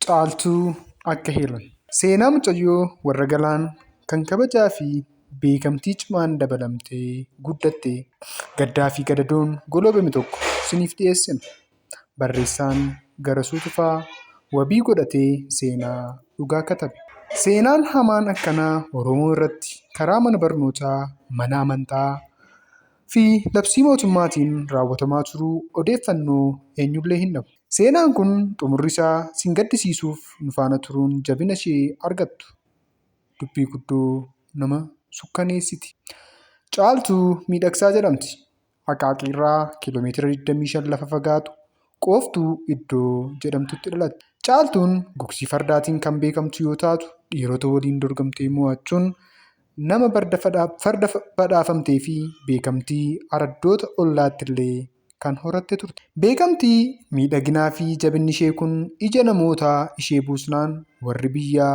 Caaltuu akka heeran. Seenaa mucayyoo warra Galaan kan kabajaa fi beekamtii cimaan dabalamtee guddatte Gaddaa fi Gadadoon goloobame tokko isiniif dhiyeessina. Barreessaan Garasuu Tufaa wabii godhatee seenaa dhugaa katabe. Seenaan hamaan akkanaa Oromoo irratti karaa mana barnootaa, mana amantaa, fi labsii mootummaatiin raawwatamaa turuu odeeffannoo eenyullee hin dhabu. Seenaan kun xumurri isaa sin gaddisiisuuf nu faana turuun jabina ishee argattu. Dubbii guddoo nama sukkaneessiti. Caaltuu Miidhagsaa jedhamti. Aqaaqiirraa kiiloomeetira 25 lafa fagaatu Qooftuu iddoo jedhamtutti dhalatte. Caaltuun gugsii fardaatiin kan beekamtu yoo taatu, dhiirota waliin dorgomtee mo'achuun Nama farda badhaafamtee fi beekamtii araddoota ollaattillee kan horatte turte. Beekamtii, miidhaginaa fi jabinni ishee kun ija namootaa ishee buusnaan warri biyyaa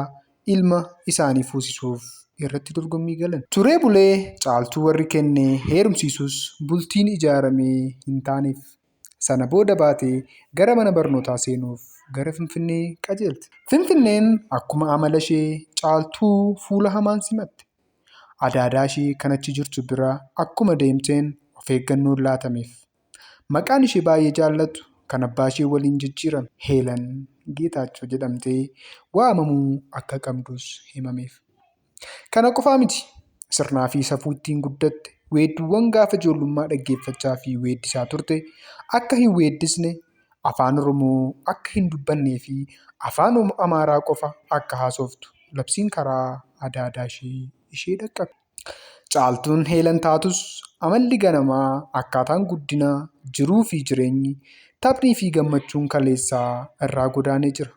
ilma isaanii fuusisuuf irratti dorgommii galan. Turee bulee Caaltuu warri kenne heerumsiisus bultiin ijaaramee hin taaneef. Sana booda baatee gara mana barnootaa seenuuf gara Finfinnee qajeelte. Finfinneen akkuma amalashee Caaltuu fuula hamaan simatte. Adaadaashee kan achi jirtu bira akkuma deemteen of eeggannoon laatameef. Maqaan ishee baay'ee jaallattu kan abbaashee waliin jijjiirame Heelan Geetaachoo jedhamtee waamamuu akka qabdus himameef. Kana qofaa miti. Sirnaa fi safuu ittiin guddatte, weedduuwwan gaafa ijoollummaa dhaggeeffachaa fi weeddisaa turte akka hin weeddisne, Afaan Oromoo akka hin dubbannee fi Afaan Amaaraa qofa akka haasoftu labsiin karaa adda addaa ishee ishee dhaqqabe. Caaltuun Heelan taatus amalli ganamaa, akkaataan guddina, jiruu fi jireenyi, taphni fi gammachuun kaleessaa irraa godaanee jira.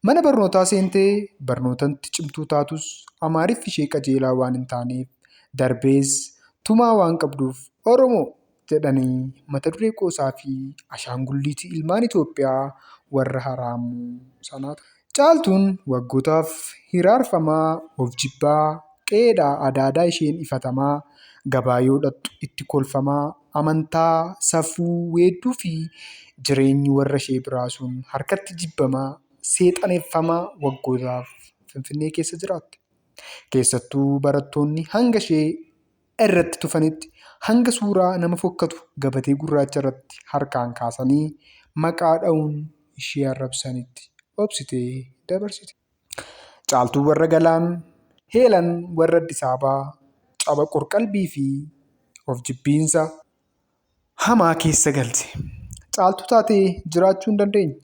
Mana barnootaa seentee barnootatti cimtuu taatus Amaariffi ishee qajeelaa waan hin taaneef darbees tumaa waan qabduuf Oromoo! jedhanii mata duree qoosaa fi ashaangulliitii ilmaan Itoophiyaa warra haraamuu sanaa turan. Caaltuun waggootaaf hiraarfamaa, of jibbaa, qe'eedhaa adaadaa isheen ifatamaa, gabaa yoo dhaqxu itti kolfamaa, amantaa, safuu, weedduu fi jireenyi warra ishee biraa sun harkatti jibbamaa, seexaneffamaa waggootaaf Finfinnee keessa jiraatte. Keessattuu barattoonni hanga ishee irratti tufanitti hanga suuraa nama fokkatu gabatee gurraacha irratti harkaan kaasanii maqaa dha'uun ishee arrabsanitti obsitee dabarsite. Caaltuu warra Galaan, Heelan warra Addisaabaa, caba qorqalbii fi of jibbiinsa hamaa keessa galte. Caaltuu taatee jiraachuu hin dandeenye.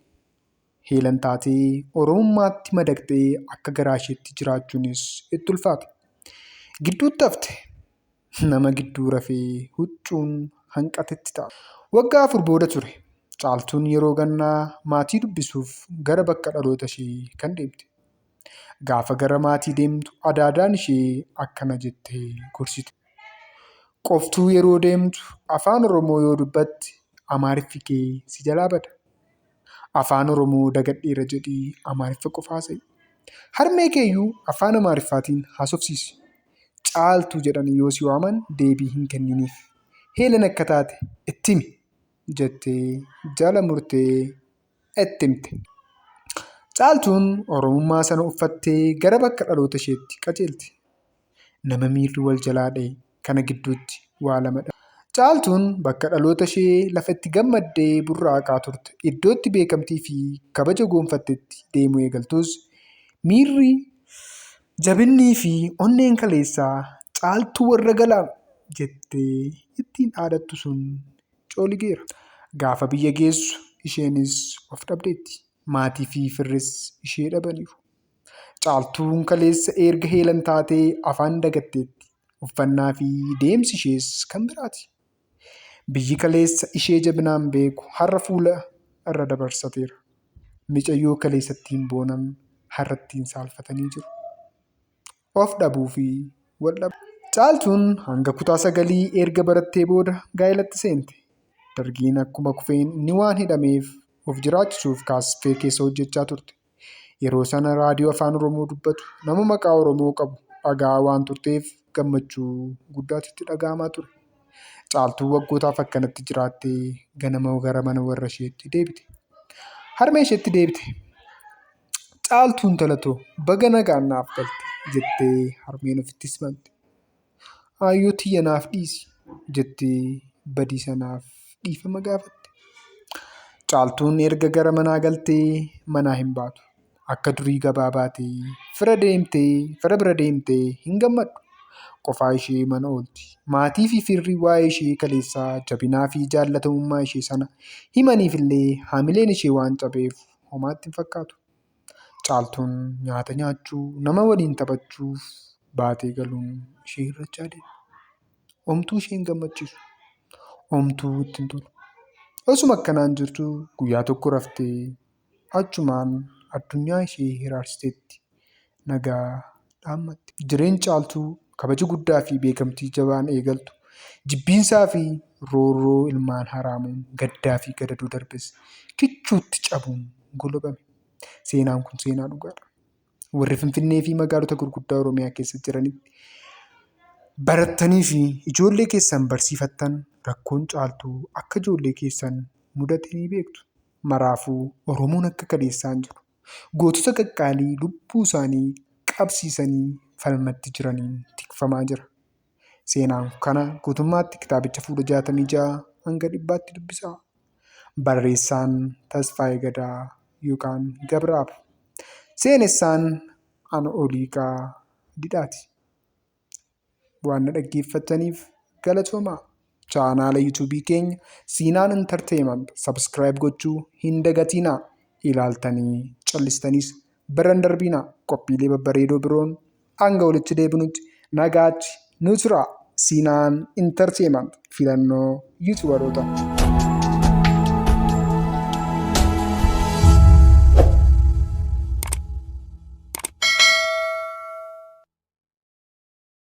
Heelan taatee Oromummaatti madaqxee akka garaa isheetti jiraachuunis itti ulfaate. Gidduutti hafte. Nama gidduu rafee huccuun hanqatetti ta'a. Waggaa afur booda ture Caaltuun yeroo gannaa maatii dubbisuuf gara bakka dhaloota ishee kan deemte. Gaafa gara maatii deemtu adaadaan ishee akkana jettee gorsite. Qoftuu yeroo deemtu Afaan Oromoo yoo dubbatte Amaariffi kee si jalaa bada. Afaan Oromoo dagadheera jedhii Amaariffa qofa haasa'i. Harmee keeyyuu afaan Amaariffaatiin haasofsiisi. Caaltuu jedhanii yoo si waaman deebii hin kenniniif. Heelan akka taate itti himi! jettee jala murtee itti himte. Caaltuun Oromummaa sana uffattee gara bakka dhaloota isheetti qajeelte. Nama miirri wal jalaa dhahe kana gidduutti waa lama dha. Caaltuun bakka dhaloota ishee lafa itti gammaddee burraaqaa turte, iddoo itti beekamtii fi kabaja goonfattetti deemuu eegaltus, miirri, jabinnii fi onneen kaleessa Caaltuu warra Galaam jettee ittiin dhaadattu sun cooligeera. Gaafa biyya geessu isheenis of dhabdeetti. Maatii fi firris ishee dhabaniiru. Caaltuun kaleessa erga heelan taatee afaan dagatteetti. Uffannaa fi deemsi ishees kan biraati. Biyyi kaleessa ishee jabinaan beeku har'a fuula irra dabarsateera. Micayyoo kaleessatti hin boonan har'atti hin saalfatanii jiru. Of dhabuu fi wal dhabuu. Caaltuun hanga kutaa sagalii erga barattee booda gaa'elatti seente. Dargiin akkuma kufeen inni waan hidhameef of jiraachisuuf kaaffee keessa hojjechaa turte. Yeroo sana raadiyoo Afaan Oromoo dubbatu nama maqaa Oromoo qabu dhaga'aa waan turteef gammachuu guddaatu itti dhaga'amaa ture. Caaltuun waggootaaf akkanatti jiraattee ganama gara mana warra isheetti deebite. Harmee isheetti deebite. Caaltuun talatoo baga nagaan naaf galte jettee harmeen ofitti simante. Aayyoo tiyya naaf dhiisi jettee badii sanaaf dhiifama gaafatte. Caaltuun erga gara manaa galtee manaa hin baatu. Akka durii gabaa baatee fira deemtee fira bira deemtee hin gammaddu. Qofaa ishee mana oolti. Maatii fi firri waa'ee ishee kaleessaa jabinaa fi jaallatamummaa ishee sana himaniifillee hamileen ishee waan cabeef homaatti hin fakkaatu. Caaltuun nyaata nyaachuu, nama waliin taphachuuf baatee galuun ishee hir'achaa deema. Homtuu ishee hin gammachiisu. Homtuu itti hin tolu. Osuma akkanaan jirtu guyyaa tokko raftee achumaan addunyaa ishee hiraarsiteetti. Nagaa dhaammatte. Jireen Caaltuu kabaja guddaa fi beekamtii jabaan eegaltu, jibbiinsaa fi roorroo ilmaan haraamuun gaddaa fi gadadoo darbes kichuutti cabuun golobame. Seenaan kun seenaa dhugaadha. Warri Finfinnee fi magaalota gurguddaa Oromiyaa keessa jiranitti barattanii fi ijoollee keessan barsiifattan rakkoon Caaltuu akka ijoollee keessan mudate ni beektu. Maraafuu Oromoon akka kaleessaa hin jiru. gootota qaqqaalii lubbuu isaanii qabsiisanii falmatti jiraniin tikfamaa jira. Seenaan kana guutummaatti kitaabicha fuula 66 hanga dhibbaatti dubbisaa. Barreessaan Tasfaayee Gadaa yookaan Gabraab. Seenessaan Ana Oliiqaa Didhaati. Waan na dhaggeeffattaniif galatoomaa. Chaanaala YouTube keenya Siinaan Entertainment subscribe gochuu hin dagatiinaa. Ilaaltanii callistaniis bira hin darbiinaa. Qophiilee babbareedoo biroon hanga walitti deebinutti nagaatti nu turaa. Siinaan Entertainment filannoo yuutubaroota.